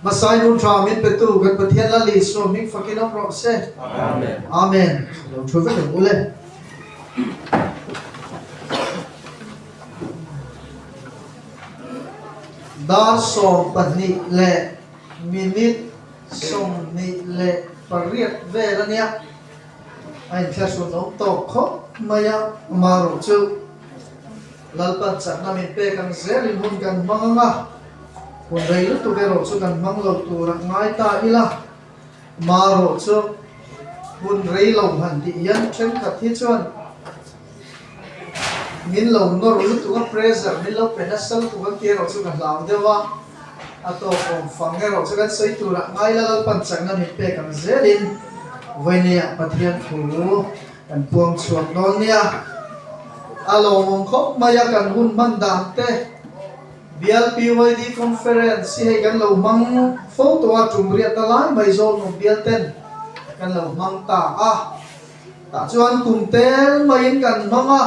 Hmasa i hmuhthla a min petu kan Pathian Lal Isua hming fakin awm rawh se. Amen. Amen. Lo thu vek ringawh le. Dar sawm pahnih leh minute sawmhnih leh pariat vel ania a inthlahrun awm tawk khawp mai a, amaherawhchu. Lalpan chakna min pek ang zel in hun kan hmang ang a, hun rei lutuk erawh chu kan hmang lo tur a ngai ta ila, marawh chu hun rei lo hman tih hian thenkhat hi chuan min lo nawr lutuk a, pressure min lo pe nasal tuk ang tih erawh chu ka hlau deuh a, a tawk awm fang erawh chu kan sawi tur a ngai ila, Lalpan chakna min pek ang zel in vawinia Pathian thu. Kan puang chhuak nawl nia, a lawmawm khawp mai a kan hun hman dan te. Bial PYD Conference hi hei kan lo hmang fo tawh a, tumriat na lai mai zawl nawm bial ten kan lo hmang ta a. Tah chuan kum tel mai in kan hmang a,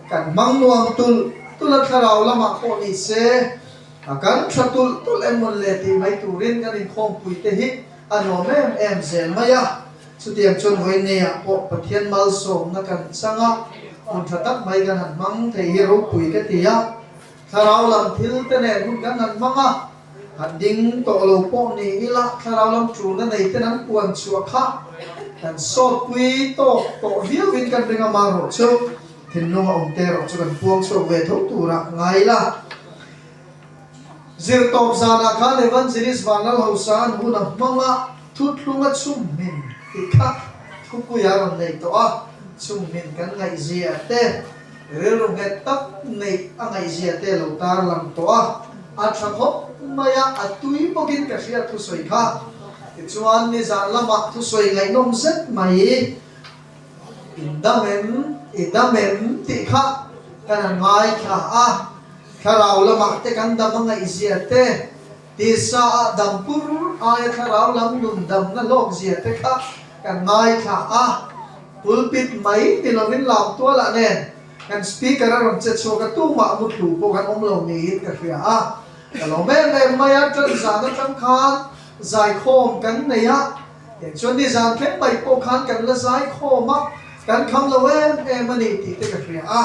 kan hmang nuam tulh tulh a thlarau lamah pawh ni se a kan tha tulh tulh em mawn le tih mai turin kan inkhawmpui te hi a nuam em em zel mai a. Chutiang chuan Oinea pawh Pathian malsawmna kan chang a, hun tha tak mai kan han hmang thei hi ropui ka ti a. Thlarau lam thil te nen hun kan han hmang a, han ding tawh lo pawh ni ila thlarau lam ṭuna nei ten an puan chhuah kha kan sawtpui tawk tawh viau in kan ring a mang rawh chu thinlung a awmte erawh chu kan puang chhuak ve tho tur a ngai la. Zirtawp zanah khan Evangelist Vanlalho San huna hmanga thutthlunga chung hmin hi kha thupuia rawn nei tawh a, chung hmin kan ngaih zia te, rilru nghet tak neih a ngaih zia te lo tarlang tawh a, a tha khawp mai a, a tui bawkin ka hria thusawi kha. Tichuan nizan lamah thusawi ngaihnawm zet mai. In dam em, i dam em tih kha kan han ngaithla a, thlarau lamah te kan dam a ngaihzia te, tisa a dam pur aia thlarau lam nun damna hlawkzia te kha kan ngaithla a. Pulpit mai ni lovin lam tualah nen kan speaker a rawn che chhuak a tuma a mutlu pawh kan awm lo niin ka hria a. Ka lawm em em mai a, ṭanzana ṭang khan zaikhawm kan nei a. Tiang chuan nizan tlem paih pawh khan kan la zai khawm a, kan kham lo em em a ni tih te ka hria a.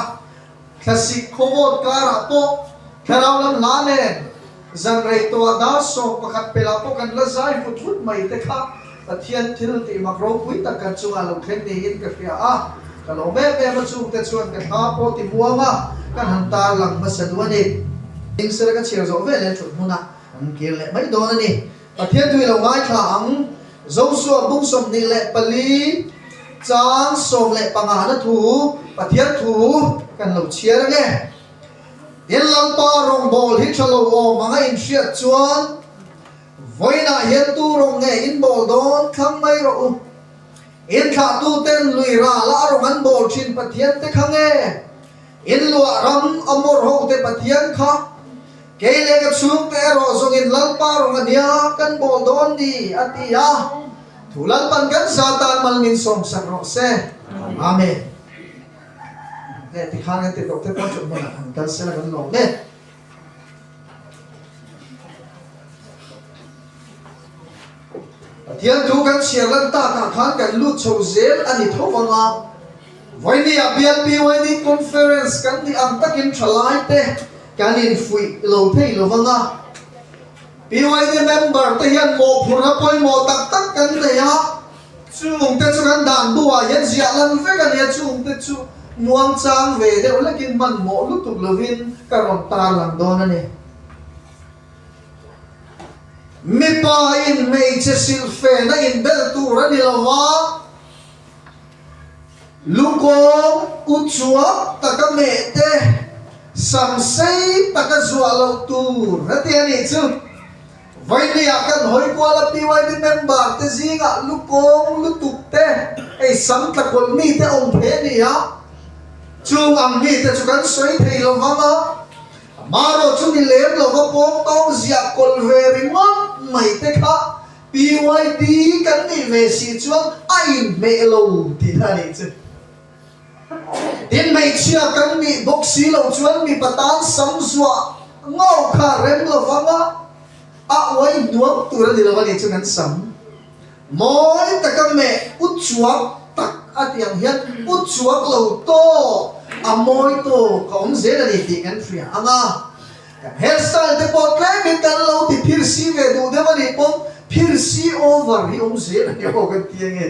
Thlasik khawvawt karah pawh Thlarau lam hla nen zanrei tawha dar sawm pakhat pelah pawh kan la zai vut vut mai te kha Pathian thil tih mak ropui tak kan chungah lo thleng niin ka hria a. Ka lawm em em a chungte chuan ka thla pawh ti muang a, ka han tar lang hmasa duh a ni. Hlingsira ka chhiar zawh veleh tluk hmuna kan kir leh mai dawn a ni. Pathian tui lo ngaithla ang Joshua bung sawmhnih leh pali chang sawm leh pangahna thu Pathian thu kan lo chhiar ang e. Tin Lalpa rawngbâwl hi ṭha lo awm ang a inhriat chuan vawiinah hian tu rawng nge in bâwl dawn thlang mai rawh u? Inthlahtuten lui râla a rawn an bâwl ṭhin Pathian te kha nge in luah ram a mawr hote Pathian kha Kei leh ka chhungte erawh zawngin Lalpa rawng a nia kan bawl dawn ni a ti a, thu Lalpan kan za tan mal min sawmsak rawh se. Amen. Heh ti khan kan ti tawh te pawh chawp hmunah han kal sela kan lawm e. Pathian thu kan chhiar lantak ah khan kan lut chho zel a ni tho vang a. Vaini ah bial BYD Conference kan nih ang takin tha lai te kan in fuih lo phei lo vang a. BYD member te hian mawhphurh na pawimawh tak tak kan nei a, chung te chu kan dan bu ah hian ziah lan vek a ni a, chung te chu nuam chang ve deuh lek in manmawh lutuk lo in ka rawn tarlang dawn a ni. Mipa in hmeichhe silhfen a inbel tur a ni lo va, lukawng u chuak taka meh te, sam sei taka zuah loh tur a ti a nih chu. Vawinia kan hawi kuala pyb member te zingah lukawng lutuk te, hei sam tla kawlh mi te awm phe nia chung ang mi te chu kan sawi thei lo vang a. Amaherawh chu mi lem lova pawng tawng ziah kawlh ve ringawt mai te kha pyt kan nih ve si chuan a inhmeh lo tih a ni chu. Tin, hmeichhia kan nih bawk si lo chuan mipa tan sam zuah ngawh kha rem lovanga a uai nuam tur a ni lo a nih chuan kan sam. Mawi taka meh utchuak tak a tiang hian utchuak lo tawh a mawi tawk a awm zel a nih tih kan hria ang a. Kan hairstyle te pawh tlemin kan lo ti phir si ve duh deuh a nih pawng, phir si over hi awm zel a ni aw kan ti ang e.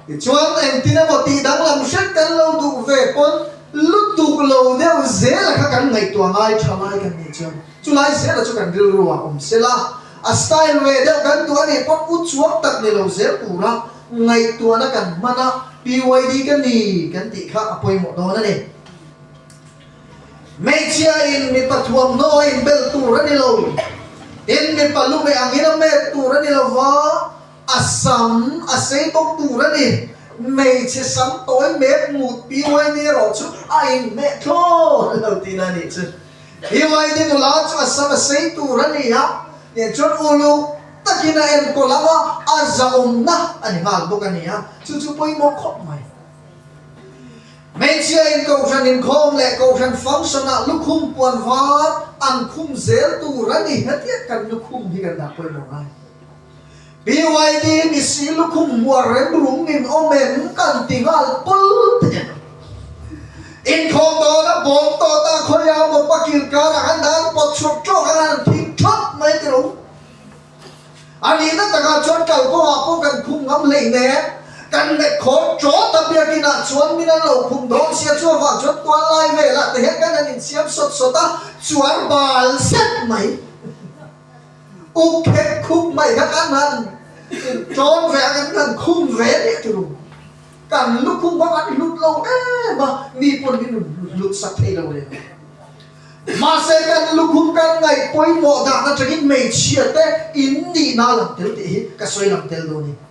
Tichuan, engtin emaw tih danglam hrang kan lo duh ve pawn, lutuk lo deuh zela kha kan ngaihtuah ngai tha lai kan nih chuan, chulai zela chu kan rilru ah awm sela, a style ve deuh kan duh anih pawn u chuak tak ni lo zel tura ngaihtuahna kan hman a, PYD ka ni kan tih kha a pawimawh dawn a ni. Hmeichhia in mipa thuamhnaw a inbel tur a ni lo, tin mipa lu meh angin a met tur a ni lo va, A sam a sei bawk tur a ni. Hmeichhe sam tawi mek mut pi YD erawh chu a in hneh thlawt lo tih na nih chu. Hi YD nula chu a sam a sei tur a ni a, tiang chuan uluk takin a en ko lama a zahawmna a ni nghal bawk a ni a, chu chu pawimawh khawp mai. Hmeichhia in Kohhran inkhawm leh Kohhran function ah lukhum puan var an khum zel tur a ni hetiang kan lukhum hi kan dah pawimawh ngai. BYD ni si lukhum hmuar rem rum min awm em kan ti nghal pul tekin inkhawm dawna bawm tawt a khawi a, mopa kil karah han dan pawt chhuak tawk a han phik thawt mai tilo. A nihna takah chuan kalpawha pawh kan khum ngam hlei nen kan met khawm tawh ta biakin ah chuan min an lo khum dawn sia chu avang chuan tual lai velah te hian kan han insiam sawt sawt a, chuar bal zet mai. Ukhet khup mai kha kan han inṭawn ve a, kan han khum ve leh ti lo. Kan lukhum ho kan i hlut lo em a, mi pawn hi min hlutsak thei lo reng. Mahse, kan lukhum kan ngaih pawimawh dan atangin hmeichhia te in nihna lang tel tih hi ka sawi lang tel dawn i.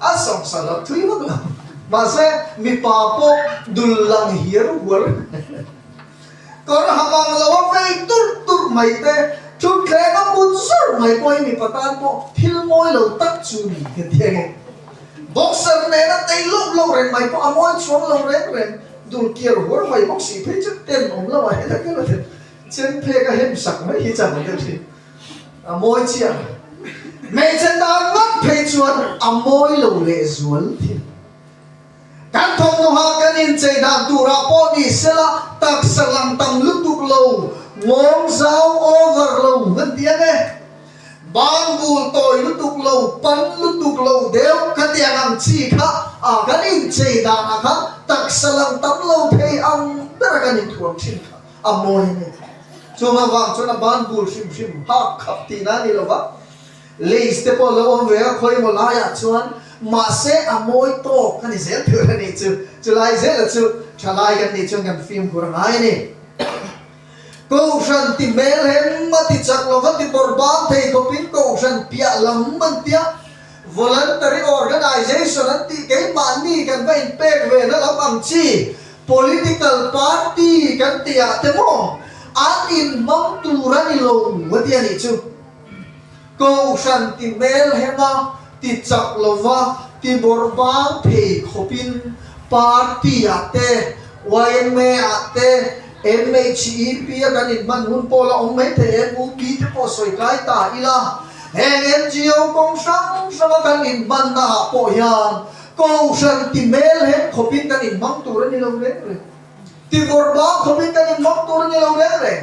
A sam sa lo thui vak lo. Mahse mipa pawh dul lang hiar huar a ni. Kawr ham ang lo a vei turh turh mai te, thutthleng a put zurh mai pawh hi mipa tan pawh thil mawi lo tak chu ni ka ti ang e. Boxer nen a tei loh loh reng mai pawh a mawi chuang lo reng reng. Dul kiar huar mai bawk si phei chu ten awm lo ah hian a kal a tel. Chenphek a hem sak mai hi chang a tel thin. A mawi chiah. Hmeichhe dan ngat phei chuan a mawi lo leh zual thil. Kan thawmhnaha kan inchei dan turah pawh ni sela taksa lang tam lutuk lo, ngawm zau over lo kan ti ang e. Bang bul tawi lutuk lo, pan lutuk lo deuh ka tiang ang chi kha a kan inchei danah kha taksa lang tam lo phei ang bera kan inthuam thin kha. A mawi ani. Chuan avang chuan a ban bul hrim hrim, hak khap tihna ani lo va. Lace te pawh lo awm ve a khawi emaw laiah chuan. Mahse a mawi tawk ani zel tur anih chu. Chulai zela chu thalai kan nih chuan kan fimkhur ngai ani. Kohhran ti hmel hem a ti chak lo va, ti bawr bang thei khawpin kohhran piah lam an tia. Voluntary Organization an tih keimahni kan va inpek ve na lo ang chi, political party kan tih ah te maw an inhmang tur a ni lo a ti a nih chu. Kohhran ti hmel hema, ti chak lova, ti bawrh bang phei khawpin party ah te Ynma-ah te, MHEP-a kan inhman hun pawl a awm mai thei em? UP te pawh sawi kai ta ila, heng NGO kawng hrang hranga kan inhmanna ah pawh hian Kohhran ti hmel heng khawpin kan inhmang tur a ni lo reng reng. Tihawrba khawpin kan inhmang tur a ni lo reng reng.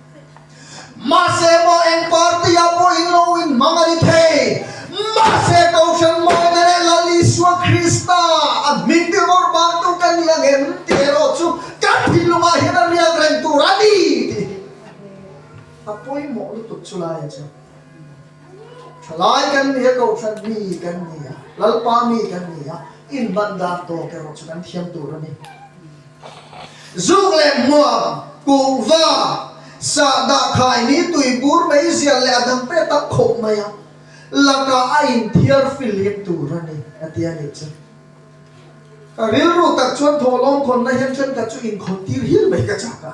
Mahse mah engpartia pawhin lo inhmang a ni thei. Mahse kohhran mah te leh Lal Isua Krista a hming tirhmawr bangtu kan nih ang em tih erawh chu kan thinlungah hian a rial reng tur a ni tih a pawimawh lutuk chu laia chuan thalai kan nih a, kohhran mi kan nih a, Lalpa mi kan nih a inban dan tawk erawh chu kan thiam tur a ni. Zuk leh hmuam, kung va, sah dah khai hi tui bur mai zial leh a dang pet tak khawp mai a lakah a in thiar filhim tur a ni, a ti a nih chu. Ka rilru tak chuan thawhlawm khawnna hian tlem ka chu inkhawn tir hir mai ka chak a.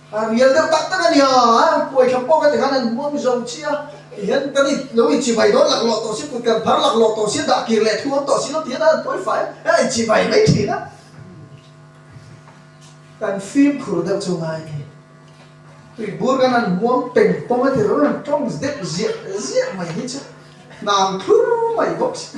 A rial deuh tak tak a ni a, puaithlam pawh ka ti khan an huam zo chi a, kei hian kan i lo i chivai dawn lak lawh tawh si, kutker phar lak lawh tawh si, dah kir leh thu awm tawh si lo ti hian an buai fai a, a inchivai mai thin a. Kan fimkhur deuh chu ngai ni, tui bur kan han huam peng pawm a ti lo em, tawng deuh ziah ziah mai hi chu hnam thlur mai bawk si.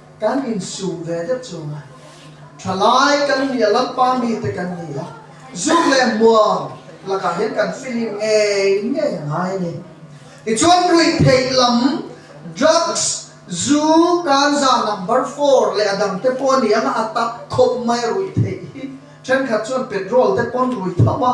Kan insum ve deuh chunga thalai kan nih a lampa mite kan ni a, zuk leh hmuang lakah hian kan feeling ngei ngei a ngai a ni. Tichuan ruihtheih lam, drugs, zu, kanza number four leh a dang te pawh a ni ang a, a tak khawp mai a ruihtheih hi. Thenkhat chuan petrol te pawn rui thauh a.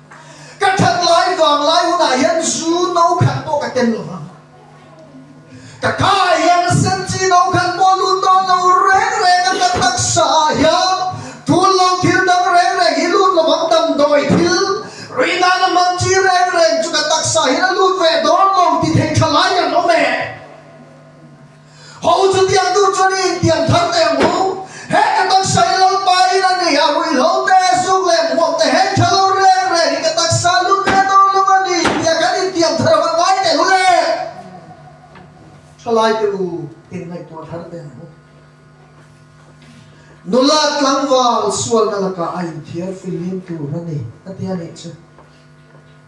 Ka that lai vang lai hunah hian zu no khat pawh ka tel lova, ka khaah hian a sen chi no khat pawh lut dawn lo reng reng a, ka taksa ah hian tul lo thil dang reng reng hi lut lo vang damdawi thil rui nan a hman chi reng reng chu ka taksa ah hian a lut ve dawn lo ti thei tha lai kan awm e. Ho chutiang tu chuan i intiam thar ta em u, he ka taksa i lo pa in a nih, a ruihhlo te, zuk leh hmuak te heng tha lo reng reng hi ka taksa lu ve dawn lo a ni tia kan intiam thar ho, ngai teh u le thalai teh u tin ngaihtuah thar ta em u. Nula tlangval sualna lakah a inthiar filhim tur a ni, a ti a nih chu.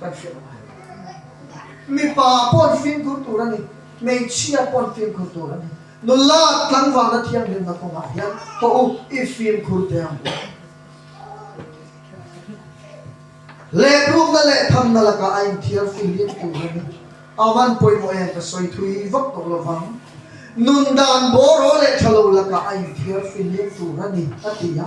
kan hrilh ang a ni. Mipa pawn fimkhur tur a ni, hmeichhia pawn fimkhur tur a ni. Nula tlangvalna thianghlimna kawngah hian haw u, i fimkhur te ang u. Leprukna leh thanna lakah a inthiar fil riat tur a ni. A hman pawimawh hian ka sawi thui vak tawh lo vang. Nun dan bawraw leh thalo lakah a inthiar fil leh tur a ni, a ti a.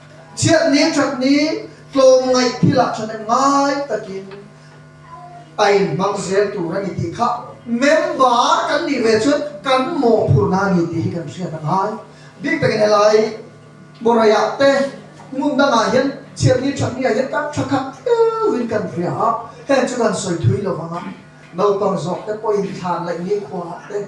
Chhiatni chutney tlawmngaih thilah thahnem ngai takin a inhmang zel tur a ni tih kha member kan nih ve chuan kan mawhphurhna a ni tih hi kan hriat a ngai. Bik takin helai Boraiah te ngun dangah hian Chhiatni thatnia hian kan tha khat tleuhin kan hria a, heng chu kan sawi thui lo vang a, naupang zawkte pawhin thlan laih nikhua te,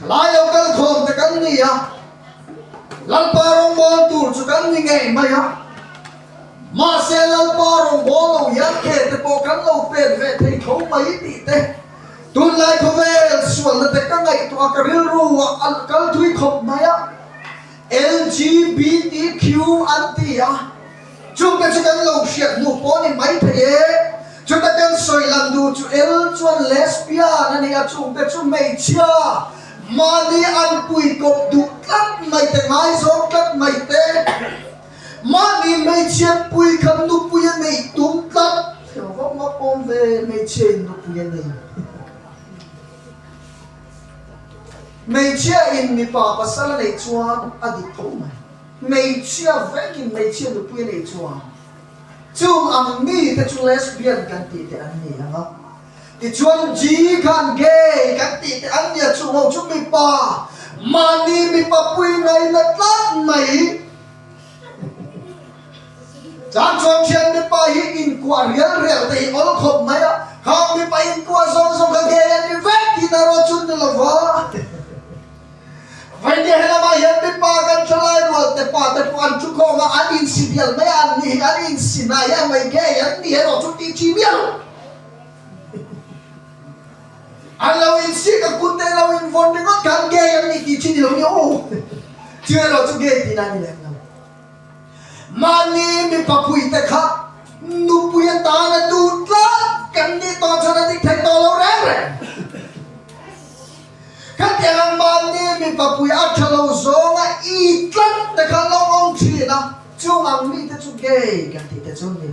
Hlai lo kal khawm te kan ni a, Lalpa rawngbâwl tur chu kan ni ngei mai a, mahse Lalpa rawngbâwl lo hian khe te pawh kan lo pêt ve thei tho mai tih te, tunlai khawvel sualna te ka ngaihtuah ka rilru ah a kal thui khawp mai a. LGBTQ an ti a, chute chu kan lo hriat hmuh pawh a ni maithei e. Chute kan sawi lan duh chu L chuan Lesbian a ni a, chute chu hmeichhia mahni an puikawp duh tlat mai te, ngaizawng tlat mai te, mahni hmeichhia pui khan nupui a nei tum tlat, heuh ho ngawk awm ve, hmeichhiain nupui a nei. Hmeichhia in mipa pasal a nei chuan a dik tho mai. Hmeichhia vek in hmeichhia nupui a nei chuan chung ang mi te chu lesbian kan tih te an ni ang a. Tichuan G khan gay kan tih te an ni a chung ho chu mipa mahni mipa pui ngaina tlat mai. Tlang chuan thianghlim pa hi inkuah rial rial te hi awl khawp mai a, Hau mipa inkuah zawng zawng kha ngei an ni vek tih na ruah chu ni lo va, vawi nia helamah hian mipa kan thalai rualte pa te pawh an thu khawm a, an insi bial mai a, an ni hi an insi nai a, mei ngei an ni erawh chu tih chim miah lo. An lo insiak a kut te lo invawn ringawt kha an gay an nih tih chhi nilo nia aw chu erawh chu gay tih na ni lem lo. Mahni mipa pui te kha nupui atan a duh tlat kan nih tawh chuan a dik theih tawh lo reng reng. Khatiang a mahni mipa pui a tha lo zawng a i tlat te kha lo awm thin a chung ang mi te chu gay kan tih te chu ni.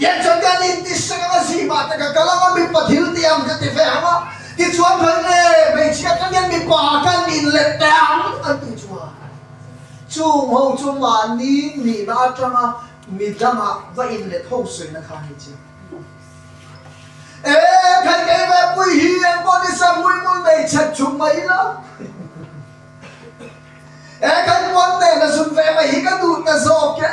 Tiang chuan ka nih ti hrang ang a zih mah taka ka lama mipa thil ti ang ka ti ve ang a, tichuan hlawih le hmeichhia ka ngen mipa ka nih let teh ang an ti chuan chung ho chu mahni nihna atanga mi danga va in let ho suihna kha ni che. Ee khai kei ve pui hi engpawh ni sa hmuihmul nei chhat chung mai ila ee khai puan nena zun ve mai hi ka duh ta zawk e.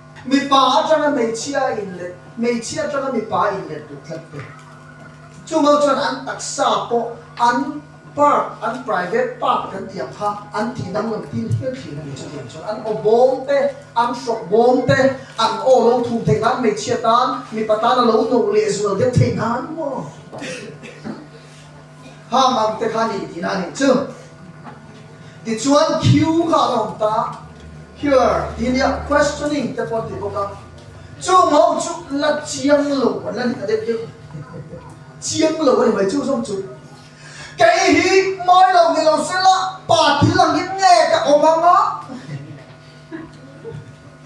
Mipa atanga hmeichhia in let, hmeichhia atanga mipa in let duh tlat te. Chungo chuan an taksa pawh an park, an private park kan ti ang kha, an tihna hmun tin hial thin a ni chutiang chuan an aw bawm te, an hrawk bawm te, an aw lo thum theih nan hmeichhia tan, mipa tan a lo no leh zual deuh theih nan maw? Hang ang te kha ni tiin a nih chu. Tichuan Q kha alo awm ta. Here tih iniah questioning te pawh a ti bawk a. Chung ho chu la chiang lo a la ni ta deuh deuh. Chiang lo a ni mai chu zawng chu. Kei hi mawi lo ni lo sela pa thil ang hi nge ka awm ang a.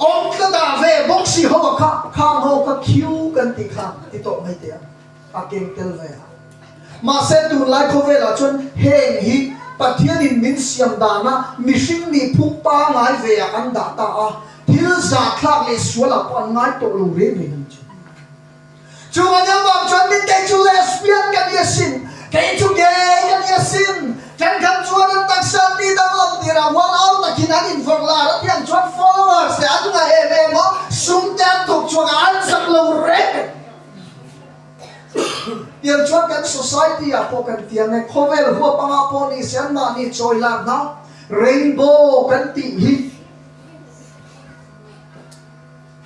Awm tla ta ve bawk si ho a kha, kha ho kha khiu kan tih kha a ti tawh mai teh a, a keng tel ve a. Mahse tunlai khawvelah chuan heng hi Pathianin min siam dana mihring nih phung pangngai veah an dah ta a, thil zahthlak leh sualah pawh an ngai tawh lo reng reng a ni chu. Chunga deuh bak chuan min kei chu lesbian ka nih asin, kei chu gay ka nih asin, kan ram chuan an taksa anni dang lom tir a hual au takin an invawn lar a tiang chuan followers te an ngah em em a, sum te an thawk chuang a an zak lo reng tiang chuan kan society ah pawh kan tiang e, khawvel huap anga pawh ni se an mah ni chawi lak na rainbow kan tih hi.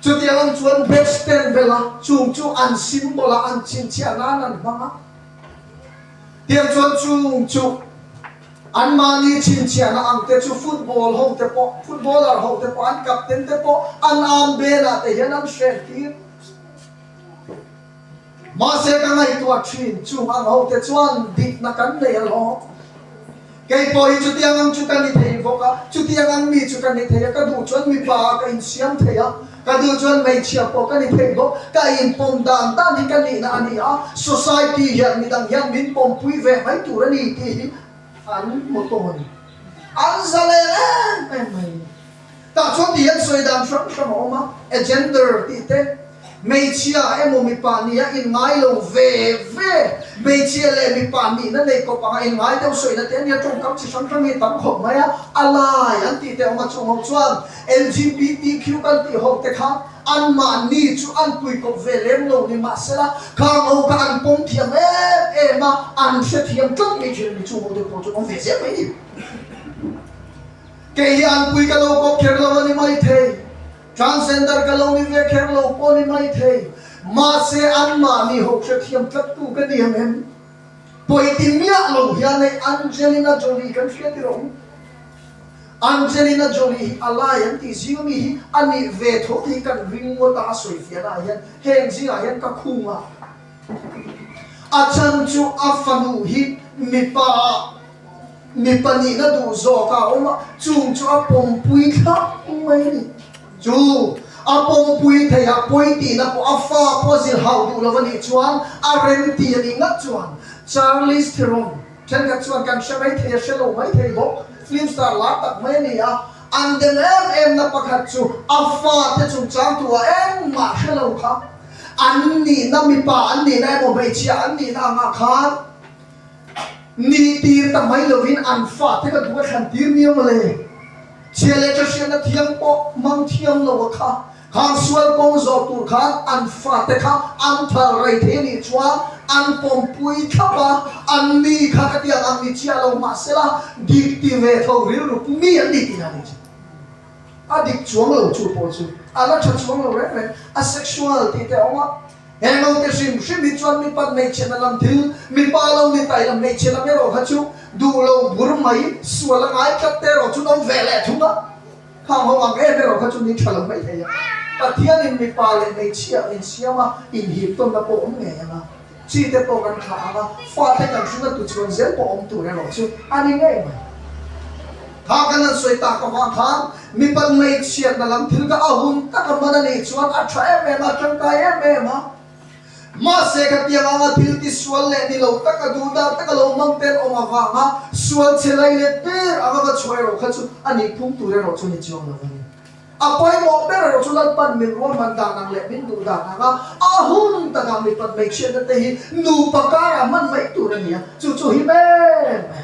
Chutiang ang chuan Bechtel bela chung chu an symbol a an chhinchhiah nan an hmang a. Tiang chuan chung chu anmahni chhinchhiahna ang te chu football ho te pawh, footballer ho te pawh, an captain te pawh an armband ah te hian an hrehtir. Mahse ka ngaihtuah thin, chung ang hote chuan dikna kan nei alawm. Kei pawh hi chutiang ang chu ka ni thei bawk a, chutiang ang mi chu ka ni thei a, ka duh chuan mipa ah ka insiam thei a, ka duh chuan hmeichhia pawh ka ni thei bawk, ka inpawm dan dan hi ka nihna a ni a, society hian midang hian min pawmpui ve mai tur a ni tih hi an hmu tawn, an zalen em em mai. Tah chuan ti hian sawi dan hram hram a awm a, a gender tih te, hmeichhia emaw mipa nih a inngai lo ve ve, hmeichhia leh mipa nihna nei kawp ang a inngai deuh sawina te ania tawngkam chi hram hram hi tam khawp mai a, a lai an tih te awm a chung ho chuan LGBTQ kan tih ho te kha anmah ni chu an pui kawp ve lem lo ni mahsela khang ho kha an pawm thiam em em a, an hrethiam tlat mai thin a ni chung ho te pawh chu awm ve zel mai a ni. Kei hi anpui ka lo kawp kher lo a ni maithei, transgender ka lo ni ve kher lo pawh a ni maithei, mahse anmah nih ho hrethiam tlaktu ka ni em em? Pawi ti miah lo hian hei Angelina Jolie kan hria tirh awm. Angelina Jolie hi a lai an tih zinga mi hi a nih ve tho tih hi kan ring ngawt a, a sawi fianah hian heng zingah hian ka khung a. A chhan chu a fanu hi mipa mipa nih na duh zawk a awm a, chung chu a pawmpui thlap mai a ni. Chu a pawmpui thei ah pawi tih na pawh a fa pawh a zir hauh duh lo a nih chuan a rem ti a nih ngah chuan. Charlie Theron, thenkhat chuan kan hre mai thei a, hre lo mai thei bawk, film star lar tak mai a ni a. An dem em emna pakhat chu a fate chungchang tua engmah hre lo kha an nihna mipa an nihna emaw hmeichhia an nihna angah khan ni tir ta mai lovin an fate ka duh a thlan tir ni emaw le. Chhia leh chahriatna thiam pawh mang thiam lo a kha Khang sual kawng zawh tur khan an fate kha an thar rei thei nih chuan an pawm pui thlap a, an mi kha ka tiang ang ni chiah lo mahsela dik ti ve tho rilru pu mi an ni tih dan hi chu a dik chuang lo chu pawh chu a la tha chuang lo reng reng a sexual tih te a awm a he note hrim hrim hi chuan mi pat hmeichhe na lam thil mi pa lo ni ta ila hmeichhe lam erawh kha chu duh lo bur mai sual a ngai tlat te erawh chu no ve leh thung a. Kha ho ang em erawh kha chumi tha lo hmaih theih ang. Pathianin mipa leh hmeichhia a insiam a, inhiptawnna pawh awm ngei ang a. Chi te pawh kan thlah ang a, fate kan thluna tuchhuan zel pawh awm tur erawh chu a ni ngei mai. Kha kan han sawi tak avang khan mipa lei chhiatna lam thil kha a hun taka man a nih chuan a tha em em a, a tangkai em em a. Mahse, ka tiang anga thil tisual leh ni lo taka, duhdan taka lo hmang te an awm avanga sualchhe lai let ber anga va chhuah erawh kha chu a nih phum tur erawh chu ni chuang lo a ni. A pawimawh ber erawh chu lalpan min rual man dan ang leh min duh dan anga ahum taka mi pat hmeichhiatna te hi nupa karah hman mai tur a ni a, chu chu hi ber mai ang a ni.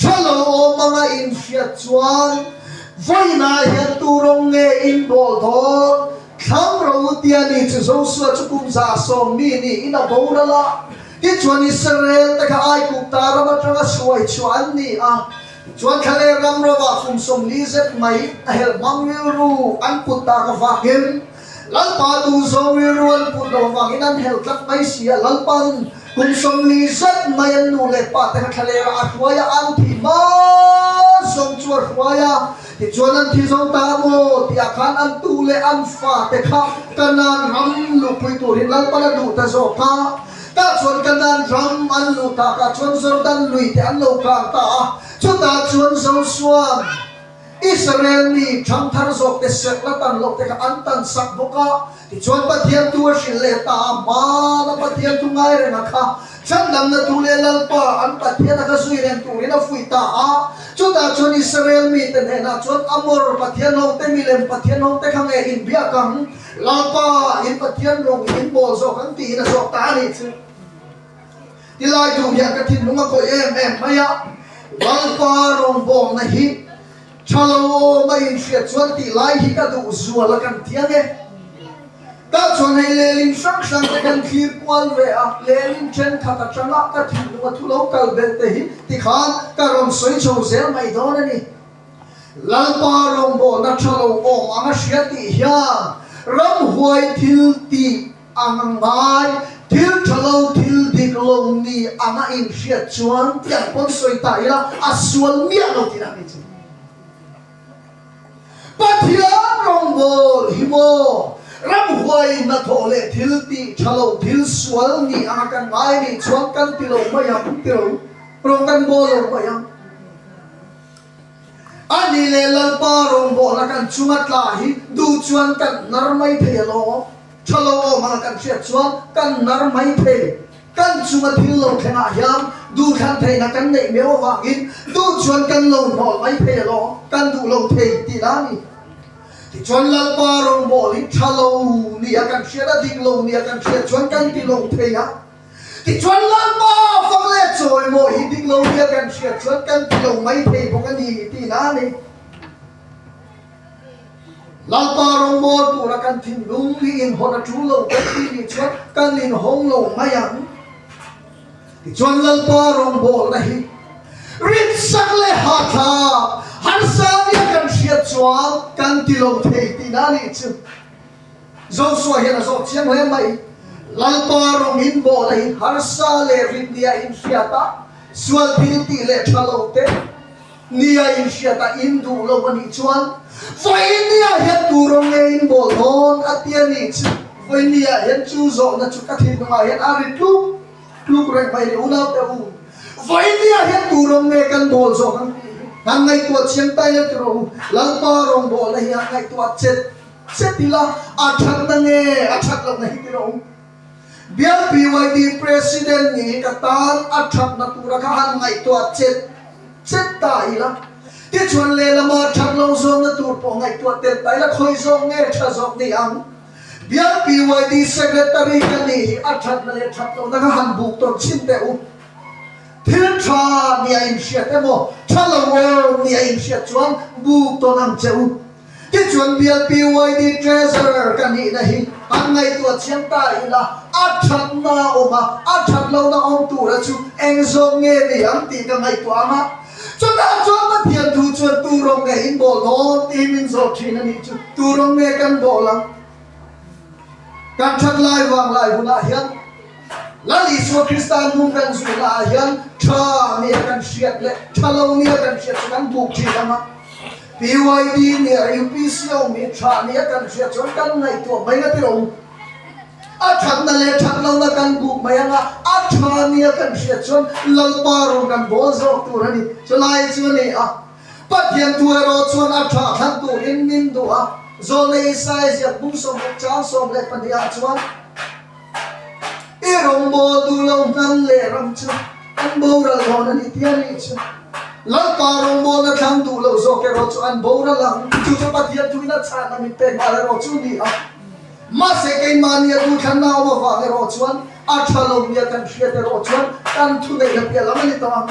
Thu lo awm anga infiat chuan vawiin ah hian turawng nge in bawl dawn? Thlangrau u tia ni chu Joshua chu kum za sawm mi niin a boral a. Tin chuan Israel te kha Aigupta ram atanga hruai chhuah an ni a. Chuan thla leh ram rovah kum sawmli zet mai a helh hmang rilru an put ta ka vakin, Lalpa Tuzawi rual put lo avangin an hel tlat mai si a, Lalpa in kum sawmli zet mai an nu leh pa te kha thlalêra a hruai a, an thih hma zawng chu a hruai a, tichuan an thi zo ta maw tihah khan an tu leh an fa te kha ka nan ram luhpui turin Lalpa la duh ta zawk a, tah chuan ka nan ram an luh takah chuan Jordan lui te an lo kar ta a, chutah chuan Joshua. Israel mi thangthar zawkte serhla tan lohte kha an tan sak bawk a, tichuan Pathian thu a hrilh leh ta a, hmang a Pathian thu ngai rengah kha chhandamna tu leh Lalpa an Pathian a kha zui reng turin a fuih ta a. Chutah chuan Israel mite hnenah chuan Amor pathian hawngte milem pathian hawngte kha nge inbiak ang? Lalpa in Pathian rawng in in bawl zawk ang tiin a zawk ta a ni chu. I laitu hian ka thinlung a khawih em em mai a, Lalpa rawngbawmna hi tha lo awma inhriat chuan tih lai hi ka duh zual a kan ti ang e. Tah chuan hei lehlim hrang hrang te kan thlir kual ve a, lehlim thenkhat atanga ka thinlung a thu lo kal ber te hi ti khan ka rawn sawi chho zel mai dawn a ni. Lalpa rawngbawmna tha lo awm ang a hria tih hian ramhuai thil tih A ngangai thil tha lo, thil dik lo ni ang a inhriat chuan tiang pawn sawi ta ila a sual miah lo tih ang nichu. Pathian rawngbawr hi maw ram huai hnathawh leh thil tih tha lo, thil sual ni ang a kan ngai nih chuan kan ti lo mai ang, kan ti lo, rawn kan bawl lo mai ang. A nih leh Lalpa rawng bawhna kan chunga tla hi duh chuan kan nar mai thei alawng aw. Tha lo awm anga kan hriat chuan kan nar mai thei. Kan chunga thil lo thlengah hian duh thlan theihna kan neih meuh avangin duh chuan kan lo hnawl mai thei alawng aw, kan duh lo thei ti la ni. Tichuan Lalpa rawng bawl hi tha lo nia kan hriat a, dik lo nia kan hriat chuan kan ti lo thei a. Tichuan lalpa fak leh chawi maw hi dik lo hi a kan hriat chuan kan ti lo mai thei bawk a ni ti na ni. Lalpa rawngbawl tura kan thinlung hi inhawn a ṭul lo bawk tih ni chuan kan inhawng lo mai ang. Tichuan lalpa rawngbawlna hi ritsak leh hatthlak harsa nia kan hriat chuan kan ti lo thei ti na ni chu. Joshua hian a zawt chiang hle mai. Lalpa rawngin mawlahin harsa leh rinnia in hriat a, sual phil tih leh tha lo te nia in hriat a in duh lo a nih chuan Vawinia hian turawng nge in bawl dawn a tia ni chu. Vawinia hian chu zawhna chu ka thil hnungah hian a ri tluk tluk reng mai ri unaute u. Vawinia hian turawng nge kan bawl zawh han ngaihtuah chiang tai lo tiro u. Lalpa rawng bawhna hi han ngaihtuah chet. Che ti la, a that na nge a that loh na hi ti rawh. Bial BYD President nih hi ka tan a that na tura kha han ngaihtuah chet chet ta i la. Tichuan lehlam ah that lo zawng na tur pawh ngaihtuah tel ta i la, khawi zawk nge tha zawk ni ang. Bial BYD Secretary kha nih hi a that na leh that loh na kha han buk tawn chhin teh u. Thil tha nih a inhriat emaw tha lo awm nih a inhriat chuan buk tawn ang che u. Tichuan BLPYD Treasurer ka nihna hi kan ngaihtuah chiang ta ila, a thatna a awm a, a that lohna awm tura chu eng zawk nge ni ang tih ka ngaihtuah ang a. Chutah chuan Pathian thu chuan turawng nge in bawlh dawn tih hi min zawh thin a nih chu, turawng nge kan bawlh ang? Kan that lai vang lai hunah hian. Lal Isua Krista an hung reng zui naah hian tha mi a kan hriat leh tha lo mi a kan hriat chu kan buk thin ang a. PYD nih a ring pi si lo mi tha mi a kan hriat chuan kan ngaihtuah mai na tir awm. A thatna leh that lohna kan buk mai ang a, a tha mi a kan hriat chuan Lalpa rawn kan bawl zawk tur a ni. Chulai chu a ni a, Pathian thu erawh chuan a tha thlang turin min duh a, Zona Isaiah ziakbung sawmpakchang sawm leh pahnih ah chuan, I rawngbawl duh lo hman leh ram chu an boral dawn a ni tih a nih chu. Lalpa rawngbawlna thlang duh lo zawk erawh chu an boral ang. Chu chu Pathian thu in a chhakna mit pek nghal erawh chu ni a. Mahse keimahni a duhthlanna a awm avang erawh chuan a tha lomi a kan hriat erawh chuan kan thuneihna piah lam a ni ta ang.